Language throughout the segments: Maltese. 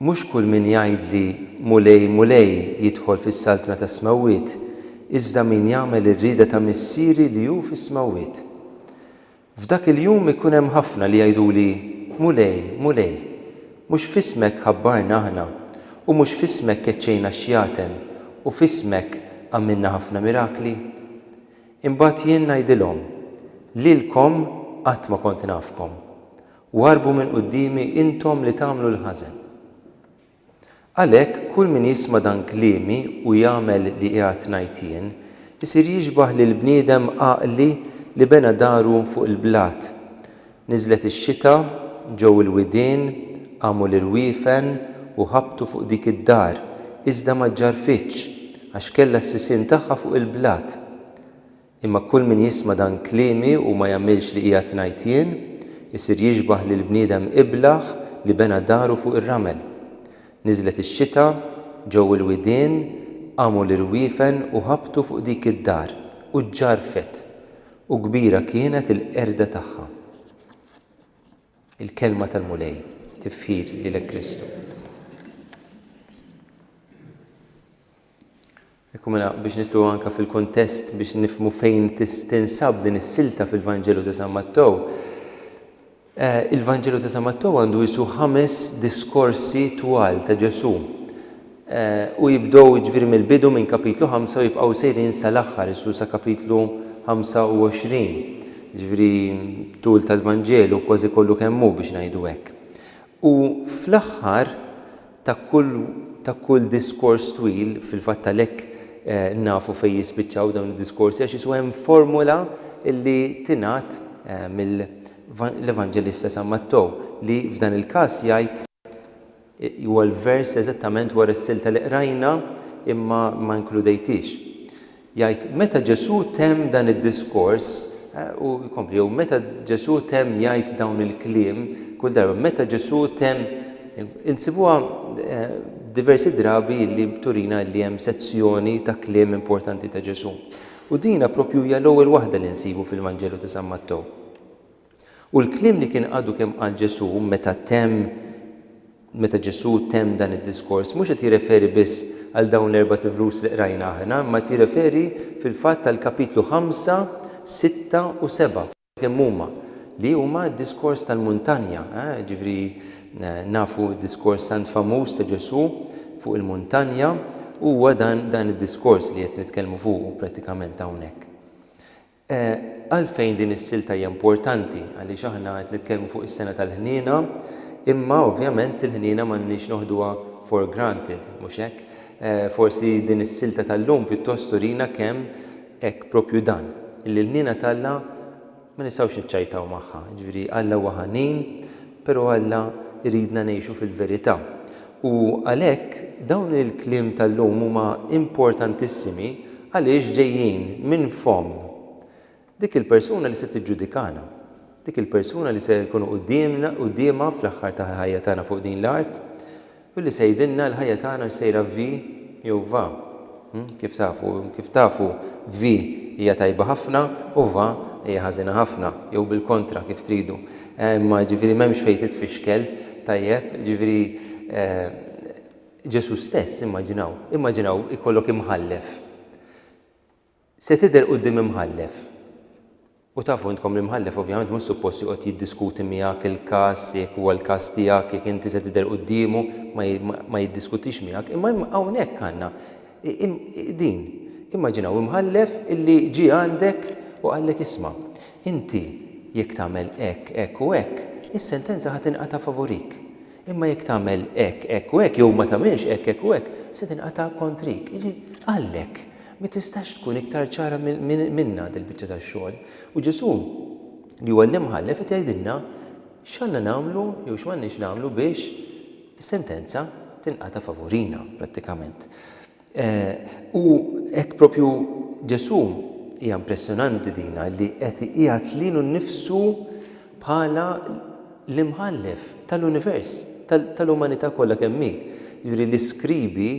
Mhux kull min jgħidli, 'Mulej, Mulej, jidħol fis-saltna tas-smewwiet, iżda min jagħmel ir-rieda ta' Missieri li hu fis-smewwiet. F'dak il-jum ikun hemm ħafna li jgħiduli, 'Mulej, Mulej, mhux f'ismek ħabbarna aħna, u mhux f'ismek keċċejna x-xjaten, u f'ismek għamilna ħafna mirakli? Imbagħad jien ngħidilhom, 'Lilkom qatt ma kont nafkom. U harbu minn quddiemi intom li tagħmlu l-ħażen. Għalhekk, kull min jisma' dan kliemi u jagħmel li qiegħed ngħid jien, isir jixbah lil bniedem għaqli li bena daru fuq il-blat. Niżlet ix-xita, ġew il-widien, qamu l-irwiefen u ħabtu fuq dik id-dar, iżda ma ġġarrfitx, għax kellha s-sisien tagħha fuq il-blat. Imma kull min jisma' dan kliemi u ma jagħmilx li qiegħed ngħid jien, isir jixbah lill-bniedem iblah li bena daru fuq ir-ramel. Niżlet ix-xita, ġew il-widien, qamu l-irwiefen u ħabtu fuq dik id-dar, u ġġarrfet, u kbira kienet il-qerda tagħha. Il-Kelma tal-Mulej. Tifħir lilek Kristu. Ekku mela biex nitlu anke fil-kuntest biex nifhmu fejn tinsab din is-silta fil-Vanġelu ta' San Mattew. Il-Vanġelu ta' San Mattew għandu qisu ħames diskorsi twal ta' Ġesù u jibdew jiġifieri mill-bidu minn kapitlu ħamsa u jibqgħu sejrin sal-aħħar isu sa kapitlu ħamsa u għoxrin. Jiġifieri tul tal-Vanġelu kważi kollu kemm hu biex ngħidu hekk. U fl-aħħar Ta' kull ta' kull diskors twil, fil-fatt għalhekk nafu fejn jispiċċaw dawn id-diskorsi għax isu hemm formula li tingħad mill l-Evanġelista San Mattew li f'dan il-każ jgħid huwa l-vers eżattament wara s-silta li qrajna imma ma inkludejthiex. Jgħid, Meta Ġesù temm dan id-diskors, u jkompli, jew meta Ġesù temm jgħid dawn il-kliem, kull darba, meta Ġesù temm, insibuha diversi drabi li turina li hemm sezzjoni ta' kliem importanti ta' Ġesù. U dina propju hija l-ewwel waħda li nsibu fil-Vanġelu ta' San Mattew. U l-kliem li kien għadu kemm qal Ġesù meta temm meta Ġesù temm dan id-diskors mhux qed jirreferi biss għal dawn l-erbat vrus li qrajna aħna imma qed jirreferi fil-fatt għall-kapitlu ħamsa, sitta u seba' kemm huma li huma d-diskors tal-muntanja, jiġifieri nafu d-diskors tant famuż ta' Ġesù fuq il-muntanja huwa dan dan id-diskors li qed nitkellmu fuqu prattikament hawnhekk. Għalfejn din is-silta hija importanti? Għaliex aħna qed nitkellmu fuq is-sena tal-ħniena, imma ovvjament il-ħniena m'għandniex noħduha for granted, mhux hekk? Forsi din is-silta tal-lum pjuttost turina kemm hekk proprju dan, illi l-ħniena t'Alla ma nistgħux niċċajtaw magħha. Jiġifieri Alla huwa ħanin, però Alla jridna ngħixu fil-verità. U għalhekk dawn il-kliem tal-lum huma importantissimi għaliex ġejjin minn fomm dik il-persuna li se tiġġudikana, dik il-persuna li se nkunu quddiemna, quddiemha fl-aħħar tal-ħajja tagħna fuq din l-art u li se jgħidilna l-ħajja tagħna x'sejra vi jew va. Kif tafu, kif tafu vi hija tajba ħafna u va hija ħażina ħafna, jew bil-kontra kif tridu. Imma jiġifieri m'hemmx fejn titfixkel, tajjeb, jiġifieri Ġesù stess, immaġinaw, immaġinaw ikollok imħallef. Se tidher quddiem imħallef. U tafu intkom l-imħallef ovvjament mhux suppost joqgħod jiddiskuti miegħek il-każ, jekk huwa l-każ tiegħek, jekk inti se tidher quddiemu, ma jiddiskutix miegħek. Imma hawnhekk għandna din. Immaġinaw imħallef illi ġie għandek u qallek isma', Inti, jekk tagħmel hekk, hekk u hekk, is-sentenza ħa tinqata' favurik. Imma jekk tagħmel hekk, hekk u hekk, jew ma tagħmilx hekk, hekk u hekk, se tinqata' kontrik. Jiġifieri, għallek, mi tistax tkun iktar ċara minnha dil-biċċa ta' xogħol. U Ġesù, li huwa l-Imħallef, qed jgħidilna x'għandna nagħmlu jew x'm'għandniex nagħmlu biex is-sentenza tinqata' favurina, prattikament. U hekk proprju Ġesù, hija impressjonanti dina, li qed iqiegħed lilu nnifsu bħala l-Imħallef tal-univers, tal-umanità kollha kemm hi. Jiġifieri l-iskribi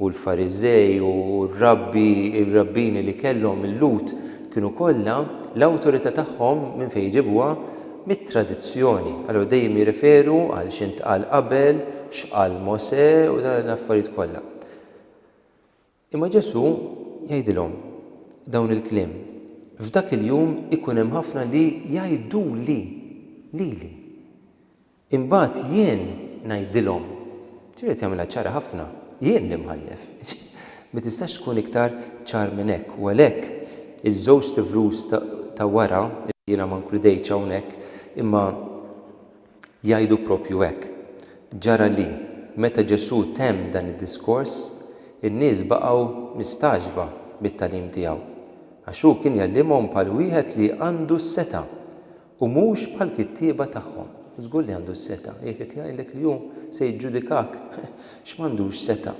u l-Fariżej u r-rabbi, ir-rabbini li kellhom il-Lhud kienu kollha l-awtorità tagħhom minn fejn jġibuha? Mit-tradizzjoni. Allura dejjem jirreferu għal x'intqal qabel, x'qal Mosè u l-affarijiet kollha. Imma Ġesù jgħidilhom dawn il-kliem, F'dak il-jum ikun hemm ħafna li jgħiduli, lili. Imbagħad jien ngħidilhom, ġifieri qed jagħmilha ċara ħafna, jien l-Imħallef. Ma tistax tkun iktar ċar minn hekk. U għalhekk il-żewġt ivrus ta' wara, jiena ma nkludejtx hawnhekk, imma Jgħidu proprju hekk. Ġara li, meta Ġesù temm dan id-diskors, in-nies baqgħu mistagħġba mit-tagħlim tiegħu, għax hu kien jgħallimhom bħal wieħed li għandu s-setgħa, u mhux bħall-kittieba tagħhom. Żgur li għandu s-setgħa, jekk qed jgħidlek li hu se jiġġudikak, x'm'għandux setgħa?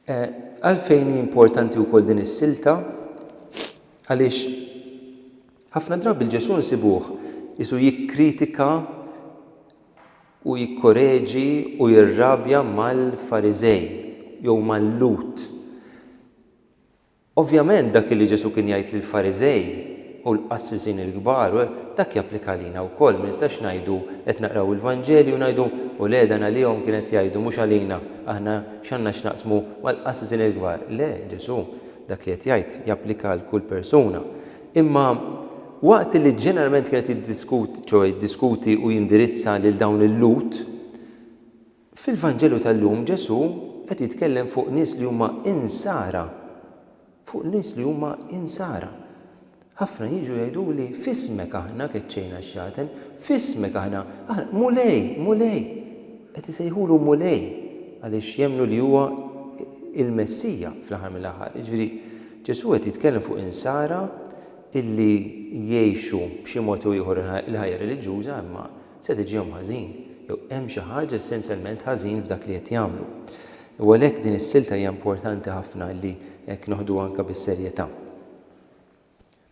Għalfejn hi importanti wkoll din is-silta? Għaliex ħafna drabi lil Ġesù nsibuh qisu jikkritika u jikkoreġi u jirrabja mal-Fariżej jew mal-Lhud. Ovvjament dak li Ġesù kien jgħid lill-Fariżej u l-qassisin il-kbar, dak japplika għalina wkoll. Ma nistgħux ngħidu, qed naqraw il-Vanġelju u ngħidu, u le dan għalihom kien qed jgħidu mhux għalina, aħna x'għandna x'naqsmu mal-qassisin il-kbar. Le, Ġesù dak li qed jgħid japplika għal kull persuna. Imma waqt li ġeneralment kien qed jiddiskuti, ċoe jiddiskuti u jindirizza lil dawn il-Lhud, Fil-Vanġelu tal-lum Ġesù qed jitkellem fuq nies li huma Insara, fuq nies li huma Insara. Ħafna jiġu jgħiduli, f'ismek aħna keċċejna x-xaten, f'ismek aħna, aħna, Mulej, Mulej! Qed isejħulu Mulej għaliex jemmnu li huwa l-Messija fl-aħħar mill-aħħar. Jiġifieri Ġesù qed jitkellem fuq Insara illi jgħixu b'xi mod jew ieħor il-ħajja reliġjuża imma Sed iġihom ħażin, jew hemm xi ħaġa essenzjalment ħażin f'dak li qed jagħmlu. U għalhekk din is-silta hija importanti ħafna li hekk noħduha anke bis-serjetà.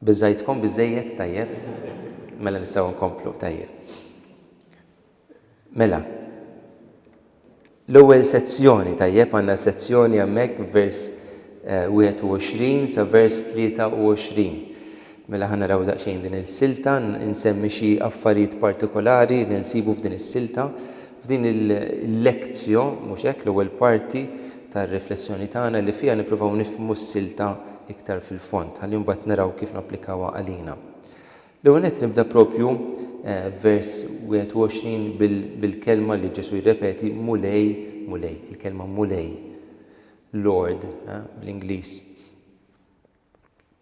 Biżżajtkom biżżejjed? Tajjeb. Mela nistgħu nkomplu, tajjeb. Mela. L-ewwel sezzjoni, tajjeb, għandna sezzjoni hemmhekk vers 21 sa vers 23. Mela ħa naraw daqsxejn din il-silta, insemmi xi affarijiet partikolari li nsibu f'din is-silta. F'din il-lezzjo, mhux hekk, l-ewwel parti tar-riflessjoni tagħna li fiha nippruvaw nifhmu s-silta iktar fil-fond, ħalli mbagħad naraw kif napplikawha għalina. L-ewwel nett nibda proprju f'vers 21 bil-kelma li Ġesù jirrepeti Mulej, Mulej, il-kelma Mulej, Lord bl-Ingliż.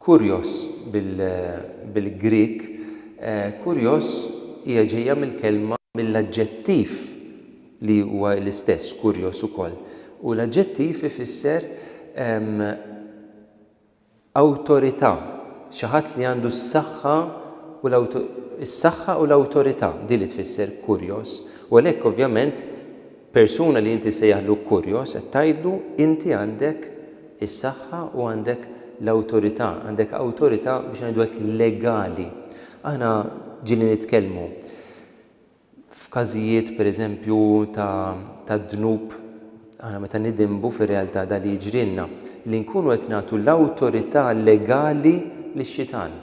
Kurjos bil-Grieg, kurjos hija ġejja mill-kelma mill-aġġettiv li huwa l-istess kurjos ukoll. U l-aġġettiv ifisser Awtorità, xi ħadd li għandu s-saħħa u is-saħħa u l-awtorità, din li tfisser Kurios, u għalhekk ovvjament persuna li inti ssejjaħlu Kurios qed tgħidlu inti għandek is-saħħa u għandek l-awtorità, għandek awtorità biex ngħidu hekk legali. Aħna ġieli nitkellmu F'każijiet, pereżempju, ta' dnub, aħna meta nidinbu fir-realtà dan li jiġrilna, li nkunu qed nagħtu l-awtorità legali lix-xitan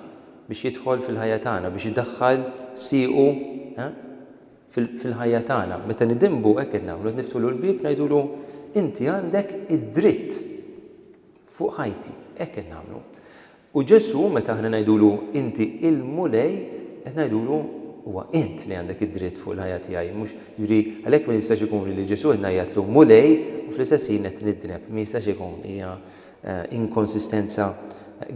biex jidħol fil-ħajja tagħna, biex idaħħal siequ fil-ħajja tagħna. Meta nidinbu hekk qed nagħmlu, qed niftħulu l-bieb ngħidulu inti għandek id-dritt fuq ħajti, hekk qed nagħmlu. U Ġesù, meta aħna ngħidulu, Inti il-Mulej, qed ngħidulu, Huwa int li għandek id-dritt fuq il-ħajja tiegħi, mhux, jiġifieri, għalhekk ma jistax ikun li lil Ġesù qed ngħajjatlu Mulej u fl-istess ħin qed nidneb. Ma jistax ikun, hija inkonsistenza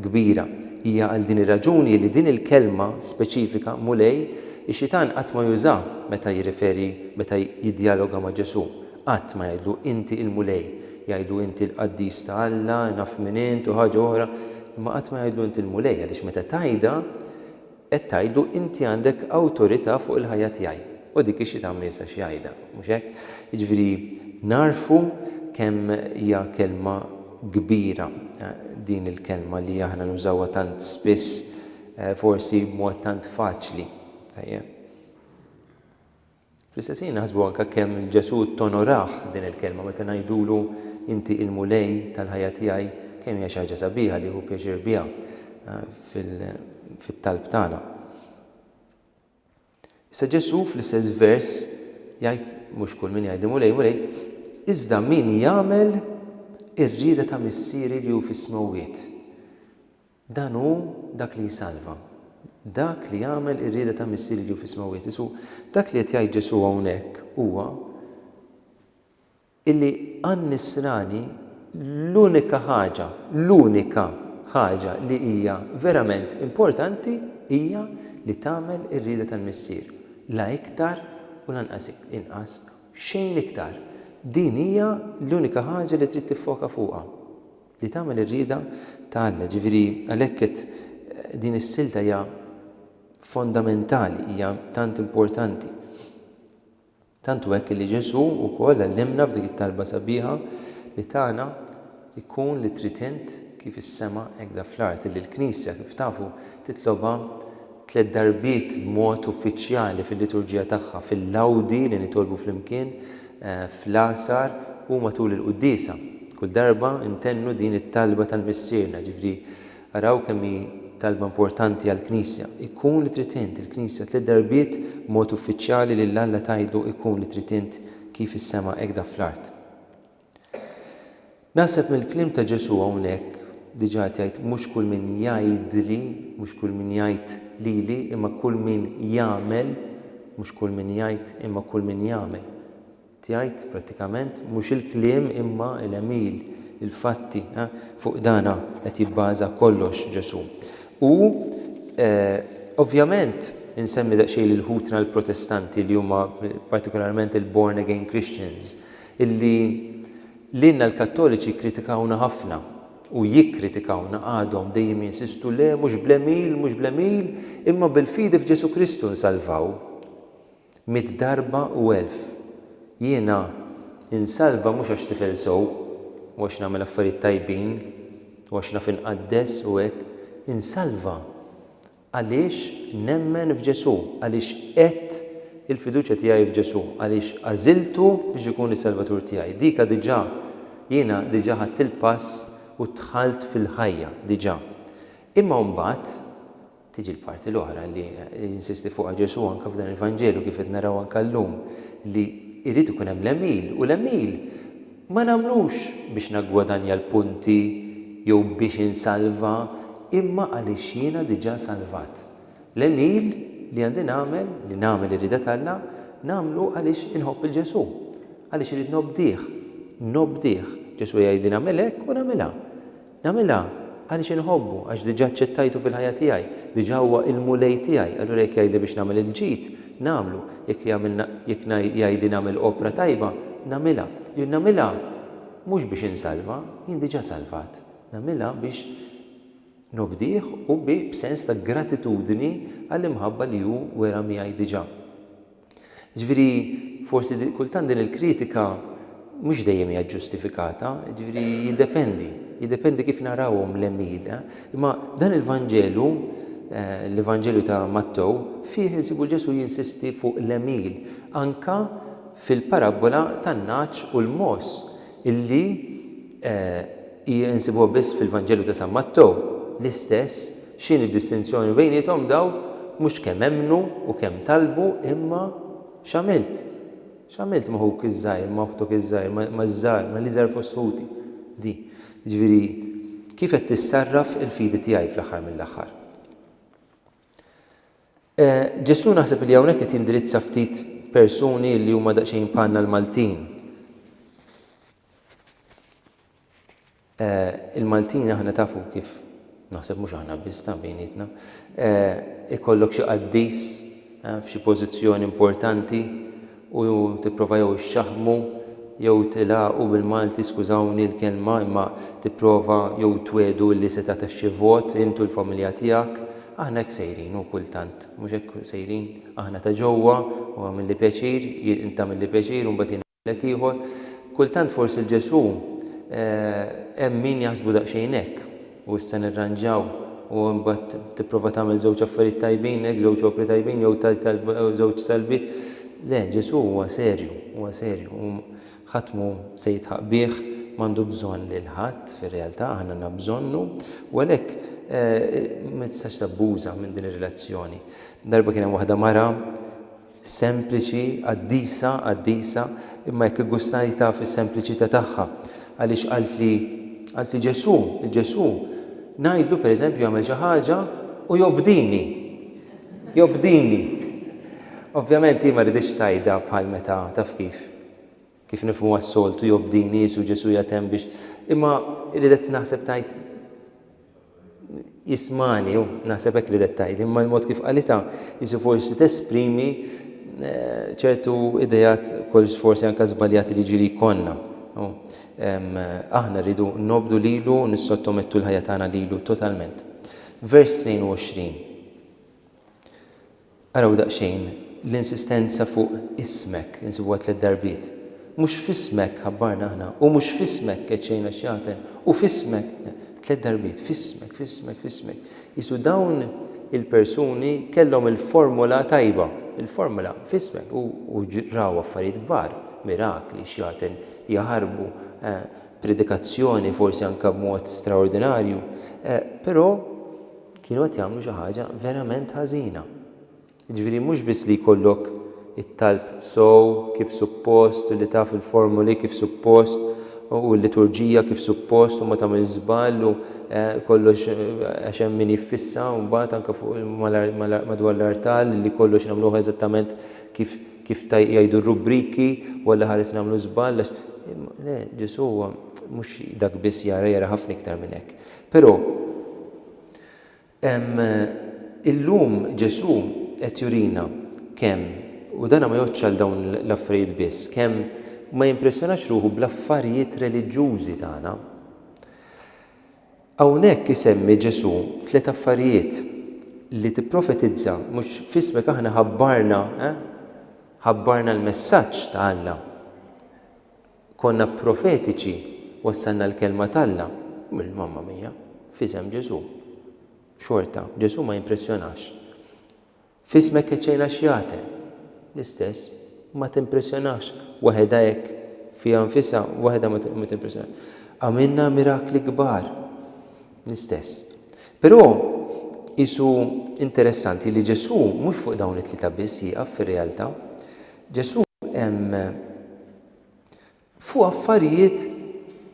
kbira. Hija għal din ir-raġuni li din il-kelma speċifika, Mulej, ix-Xitan qatt ma jużaha meta jirreferi, meta jiddjaloga ma' Ġesù. Qatt ma jgħidlu inti il-Mulej. Jgħidlu inti l-qaddis ta' Alla, naf minn int u ħaġa oħra, imma qatt ma jgħidlu inti l-Mulej għaliex meta tgħidha qed tgħidlu inti għandek awtorità fuq il-ħajja tiegħi. U dik hi xi tagħmel jista' xi jgħidha, mhux hekk? Jiġifieri nagħrfu kemm hija kelma kbira din il-kelma li aħna nużawha tant spiss, forsi b'mod tant faċli. Tajjeb. Fl-istess ħin naħsbu anke kemm Ġesù tonorah din il-kelma meta ngħidulu inti il-Mulej tal-ħajja tiegħi, kemm hija xi ħaġa sabiħa li jieħu pjaċir biha fit-talb tagħna. Issa Ġesù fl-istess vers jgħid mhux kull min jgħidli Mulej, Mulej, iżda min jagħmel ir-rieda ta' Missieri li hu fis-smewwiet. Dan hu dak li jsalva. Dak li jagħmel ir-rieda ta' Missierju fis-smewwiet. Isu, dak li qed jgħid Ġesù hawnhekk huwa illi għan-Nisrani l-unika ħaġa, l-unika ħaġa li hija verament importanti hija li tagħmel ir-rieda tal-Missier. La iktar u lanqas inqas, xejn iktar. Din hija l-unika ħaġa li trid tiffoka fuqha. Li tagħmel ir-rieda ta' Alla. Jiġifieri għalhekk qed din is-silta hija fondamentali, hija tant importanti. Tant hu hekk li Ġesù wkoll għallimna f'dik it-talba sabiħa li tagħna jkun li trid int kif is-sema hekk da fl-art li l-Knisja kif tafu titlobha tliet darbiet b'mod uffiċjali fil-liturġija tagħha, fil-Lawdi li nitolbu flimkien, fl-Għasar u matul il-Quddiesa. Kull darba ntennu din it-talba tal-Missierna, jiġifieri araw kemm hi talba importanti għall-Knisja, Ikun li trid int, il-Knisja tliet darbiet b'mod uffiċjali lil Alla tgħidlu Ikun li trid int kif fis-sema hekk da fl-art. Naħseb mill-kliem ta' Ġesù hawnhekk, diġà qed jgħid mhux kull min jgħidli, mhux kull min jgħid lili, imma kull min jagħmel, mhux kull min jgħid imma kull min jagħmel. Qed jgħid prattikament mhux il-kliem imma l-għemil, il-fatti, ha? Fuq dan ha qed jibbaża kollox Ġesù. U ovvjament insemmi daqsxejn lil ħutna l-Protestanti li huma partikolarment il-born again Christians, Illi lilna l-Kattoliċi kkritikawna ħafna u jikkritikawna għadhom dejjem jinsistu le mhux bl-għemil, mhux bl-għemil, imma bil-fidi f'Ġesù Kristu nsalvaw. Mitt darba u elf. Jiena insalva mhux għax tifel sew u għax nagħmel affarijiet tajbin u għax naf inqaddes u hekk. Insalva Għaliex nemmen f'Ġesù, għaliex għedt il-fiduċja tiegħi f'Ġesù, għaliex għażiltu biex ikun is-Salvatur tiegħi. Dika diġà, jiena diġà ħadt il-pass u dħalt fil-ħajja, diġà. Imma mbagħad tiġi l-parti l-oħra li jinsisti fuqha Ġesù anke f'dan il-Vanġelu kif qed naraw anke llum, li jrid ikun hemm l-għemil u l-għemil Ma nagħmlux biex naggwadanja l-punti jew biex insalva imma għaliex jiena diġà salvat. L-għemil li għandi nagħmel, li nagħmel ir-rieda t'Alla, nagħmlu għaliex inħobb 'il Ġesù, għaliex irrid nobdih. Nobdih. Ġesù jgħidli nagħmel hekk u nagħmilha. Nagħmilha għaliex inħobbu, għax diġà aċċettajtu fil-ħajja tiegħi, diġà huwa il-Mulej tiegħi, allura jekk jgħidli biex nagħmel il-ġid, nagħmlu, jekk jagħmilna, jekk jgħidli nagħmel opra tajba, nagħmilha. Jien nagħmilha mhux biex insalva, jien diġà salvat, nagħmilha biex nobdih u bi b'sens ta' gratitudni għall-imħabba li hu wera miegħi diġà. Jiġifieri forsi di, kultant din il-kritika mhux dejjem hija ġġustifikata, jiġifieri jiddependi, jiddependi kif narawhom l-għemil. Eh? Imma dan il-Vanġelu eh, l-Evanġelju ta' Mattew fih insibu Ġesu jinsisti fuq l-emil anka fil-parabbola tan-naċ u l-mos illi eh, Ii Insibuha biss fil-Vanġelu ta' San Mattew. L-istess, x'inhi d-distinzjoni bejniethom dawn? Mhux kemm emmnu u kemm talbu, imma x'għamilt? X'għamilt ma' ħuk iż-żgħir, ma' oħtok iż-żgħir, maż-żgħar, mal-iżgħar fost ħuti? Di. Jiġifieri, kif qed tissarraf il-fidi tiegħi fl-aħħar mill-aħħar? E Ġesù naħseb li hawnhekk qed jindirizza ftit persuni li huma daqsxejn bħalna l-Maltin. Eh, il-Maltin aħna tafu kif naħseb mhux aħna biss ta' bejnietna, eh, ikollok xi qaddis eh, f'xi pożizzjoni importanti u tipprova jew xaħmu jew tilaqu bil-Malti skużawni l-kelma imma tipprova jew twedu li se ta' xi vot intu l-familja tiegħek. Aħna hekk sejrin u kultant, mhux hekk sejrin aħna ta' ġewwa u għamilli pjaċir, inta għamilli pjaċir u mbagħad Wieħed ieħor, Kultant forsi 'l Ġesù hemm min jaħsbu daqsxejn hekk, u issa nirranġaw u imbagħad tipprova tagħmel żewġ affarijiet tajbin hekk, żewġ opri tajbin jew żewġ talbiet. Le, Ġesù huwa serju, huwa serju u ħadd mhu se jidħaq bih, m'għandu bżonn lil ħadd fir-realtà, aħna għandna bżonnu u għalhekk ma tistax tabbuża minn din ir-relazzjoni. Darba kien hemm waħda mara Sempliċi, qaddisa, qaddisa, imma jekk iggustajt taf is-sempliċità tagħha, għaliex qaltli, qaltli Ġesù, il-Ġesù, ngħidlu pereżempju jagħmel xi ħaġa u jobdini, jobdini. Ovvjament hi ma riditx tgħidha bħal meta, taf kif. Kif nifhmu għas-soltu jobdi niesu Ġesù jgħid hemm biex imma ridet naħseb tgħid jismani hu naħseb hekk ridet tgħid imma l-mod kif qalitha jisu forsi tesprimi eh, ċertu idejat kol forsi anke żbaljati li ġiri jkollna. Aħna rridu nobdu lilu nissottomettu l-ħajja tagħna lilu totalment. Vers 22. Araw daqsxejn l-insistenza fuq ismek, insibuha tliet darbiet. Mhux f'ismek ħabbarna aħna, u mhux f'ismek keċċejna x-xjaten, u f'ismek, tliet darbiet, f'ismek, f'ismek, f'ismek. Qisu dawn il-persuni kellhom il-formula tajba, il-formula f'ismek, u raw affarijiet kbar, mirakli, xjaten jaħarbu, predikazzjoni forsi anke b'mod straordinarju, però, Kienu qed jagħmlu xi ħaġa verament ħażina. Jiġifieri mhux biss li jkollok it-talb sew kif suppost u li taf il-formuli kif suppost u l-liturġija kif suppost u ma tagħmilx żball u eh, kollox eh, għax hemm min jiffissa u mbagħad anke fuq madwar l-artal li kollox nagħmluh eżattament kif kif jgħidu r-rubriki u għalli ħares nagħmlu żball għax le Ġesu mhux dak biss jara jara ħafna iktar minn hekk. Però Illum Ġesù qed jurina kemm, u dan ma jgħoddx għal dawn l-affarijiet biss, kemm ma jimpressjonax ruħu bl-affarijiet reliġjużi tagħna. Hawnhekk isemmi Ġesù tliet affarijiet li tipprofetizza mhux f'ismek aħna ħabbarna eh, ħabbarna l-messaġġ ta' Alla. Konna profetiċi, wassalna l-Kelma t'Alla, Mamma mia, f'isem Ġesù. Xorta, Ġesù ma jimpressjonax. F'ismek keċċejna x-xjaten. L-istess, ma timpressjonax waħedha hekk, fiha nfisha, waħedha ma timpressjonax. Għamilna mirakli kbar. L-istess. Però qisu interessanti li Ġesù mhux fuq dawn it-tlieta biss jieqaf fir-realtà. Ġesù hemm fuq affarijiet,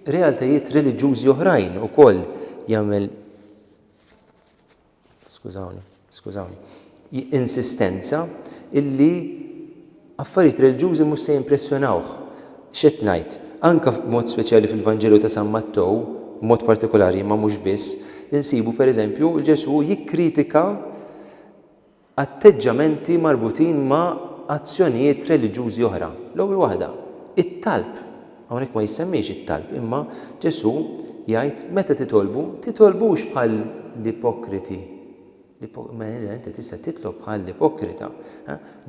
realtajiet reliġjużi oħrajn ukoll jagħmel skużawni, skużawni, insistenza illi affarijiet reliġjużi mhux se jimpressjonawh. X'qed ngħid? Anke b'mod speċjali fil-Vanġelu ta' San Mattew, b'mod partikolari imma mhux biss, insibu pereżempju l-Ġesù jikkritika atteġġamenti marbutin ma' azzjonijiet reliġjużi oħra. L-ewwel waħda, it-talb. Hawnhekk ma jissemmiex it-talb, imma Ġesù jgħid meta titolbu, titolbux bħall-ipokriti. Mela inti tista' titlob bħall-ipokrita.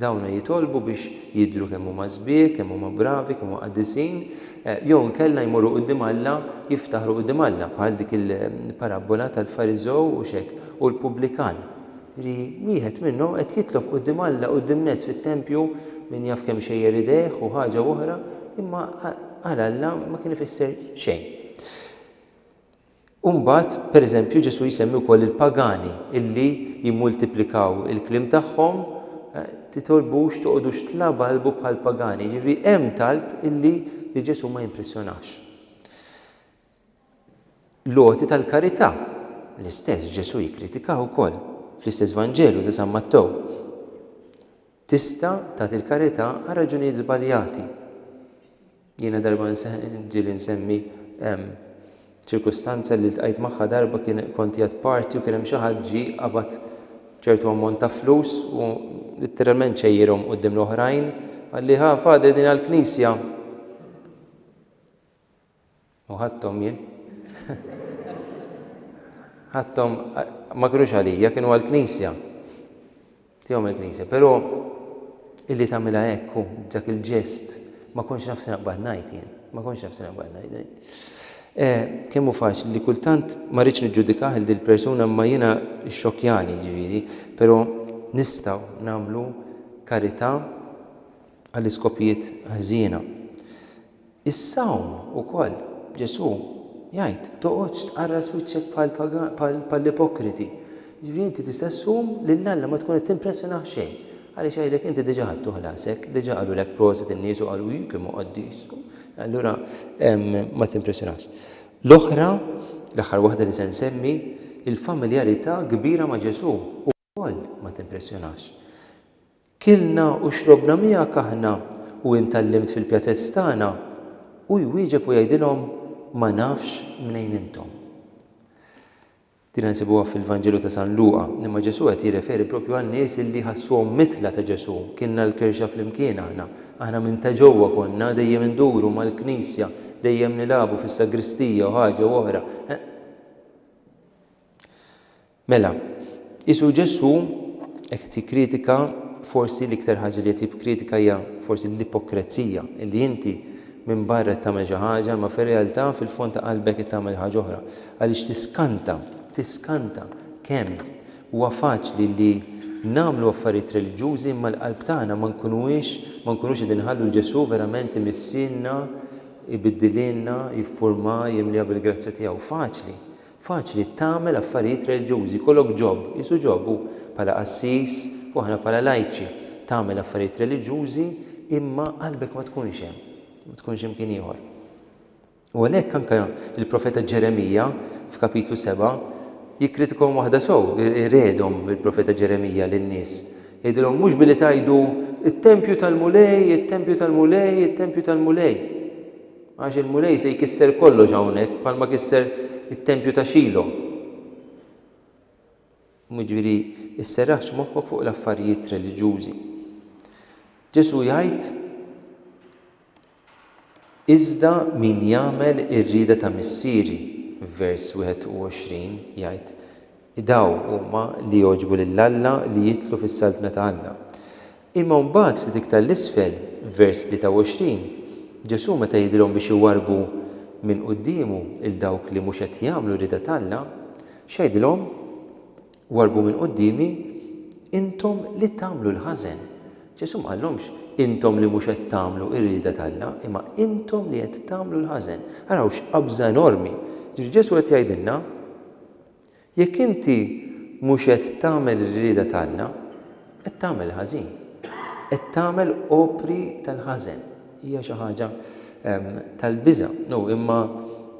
Dawna jitolbu biex jidhru kemm huma sbieħ, kemm huma bravi, kemm huma qaddisin, eh, jew inkella jmorru quddiem Alla, jiftaħru quddiem Alla, bħal dik il-parabbola tal-Fariżew u x'hekk, u l-pubblikan. li wieħed minnhom qed jitlob quddiem Alla quddiem nett fit-tempju, min jaf kemm xejjer idejh u ħaġa u oħra, imma għal Alla ma kien ifisser xejn. U mbagħad, pereżempju, Ġesù jsemmi wkoll il-pagani illi jimmultiplikaw il-kliem tagħhom, eh, titolbux toqgħodux tlabalbu bħal pagani, jiġifieri hemm talb illi li Ġesù ma jimpressjonax. L-għoti tal-karità, l-istess Ġesù jikkritikaha wkoll, fl-istess Vanġelu ta' San Mattew, tista' tagħti l-karità għal raġunijiet żbaljati. Jiena darba ġieli nsemmi ċirkustanza li ltqajt magħha darba kien kont jgħad parti u kien hemm xi ħadd ġie qabad ċertu ammont ta' flus u litteralment xejjirhom quddiem l-oħrajn, qalli ħa Father din għall-Knisja. U ħadthom jien. Ħadthom ma kinux għalija, kienu għall-Knisja. Tihom il-Knisja. Però illi tagħmilha hekk hu dak il-ġest ma kontx naf se naqbad ngħid jien. Ma kontx naf se naqbad ngħid. Eh, kemm hu faċli li kultant ma rridx niġġudikah il persuna ma jiena xxokkjani ġifieri, però nistgħu nagħmlu karità għall-iskopijiet ħżiena. Is-sawm ukoll, Ġesù jgħid, toqgħodx tqarras wiċċek bħall-ipokriti. Jiġifieri inti tista' ssum lil Alla ma tkun qed timpressjonah b'xejn. Għaliex jgħidlek inti diġà ħadtu ħlasek, diġà qalulek prosit in-nies u qalu hi kemm hu qaddis. Allura ma timpressjonahx. L-oħra, l-aħħar waħda li se nsemmi, il-familjarità kbira ma' Ġesù. ukoll ma timpressjonax. Kilna u xrobna miegħek aħna u int għallimt fil-pjazez tagħna, hu jwieġeb u jgħidilhom, Ma nafx mnejn intom. Din nsibuha fil-Vanġelu ta' San Luqa, imma Ġesù qed jirreferi proprju għan-nies illi ħassuhom mitla ta' Ġesù, kilna l-kirxa flimkien aħna, aħna minn ta' ġewwa konna, dejjem induru mal-knisja, dejjem nilagħbu fis-sagristija u ħaġa u oħra, eħ. Mela, qisu Ġesù qed jikkritika forsi l-iktar ħaġa li qed jikkritika hija forsi l-ipokrezija, li inti minn barra qed tagħmel xi ħaġa imma fir-realtà fil-fond ta' qalbek qed tagħmel ħaġa oħra, għaliex tiskanta, tiskanta kemm huwa faċli li nagħmlu affarijiet reliġjużi imma l-qalb tagħna ma nkunuhiex ma nkunux qegħdin inħallu 'l Ġesù verament imissilna, ibiddililna, jiffurma, jimliha bil-grazzja tiegħu. Faċli. Faċli tagħmel affarijiet reliġjużi, jkollok ġob, qisu ġob, u bħala qassis u aħna bħala lajċi, tagħmel affarijiet reliġjużi imma qalbek ma tkunx hemm, ma tkunx imkien ieħor. U għalhekk anke il-profeta Ġeremija f'kapitlu 7 jikkritikahom waħda sew, iredhom il-profeta Ġeremija lin-nies. Jgħidilhom mhux billi tgħidu it-tempju tal-Mulej, it-tempju tal-Mulej, it-tempju tal-Mulej. Għax il-Mulej se jkisser kollox hawnhekk bħalma kisser it-tempju ta' Xilo. Jiġifieri, isserraħx moħħok fuq l-affarijiet reliġjużi. Ġesù jgħid Iżda min jagħmel ir-rieda ta' Missieri, vers 21 jgħid, Dawn huma li jogħġbu lil Alla li jidħlu fis-Saltna ta' Alla. Imma mbagħad ftit iktar 'l isfel, vers 23, Ġesù meta jidhirhom biex iwarrbu minn quddiemu 'l dawk li mhux qed jagħmlu r-rieda t'Alla, x'għidilhom? Warrbu minn quddiemi intom li tagħmlu l-ħażen. Ġesù ma qallhomx intom li mhux qed tagħmlu r-rieda t'Alla, imma intom li qed tagħmlu l-ħażen. Araw x'qabża enormi! Jiġifieri Ġesù qed jgħidilna, Jekk inti mhux qed tagħmel ir-rieda t'Alla, qed tagħmel ħażin. Qed tagħmel opri tal-ħażen. Hija xi ħaġa tal-biża'. No, imma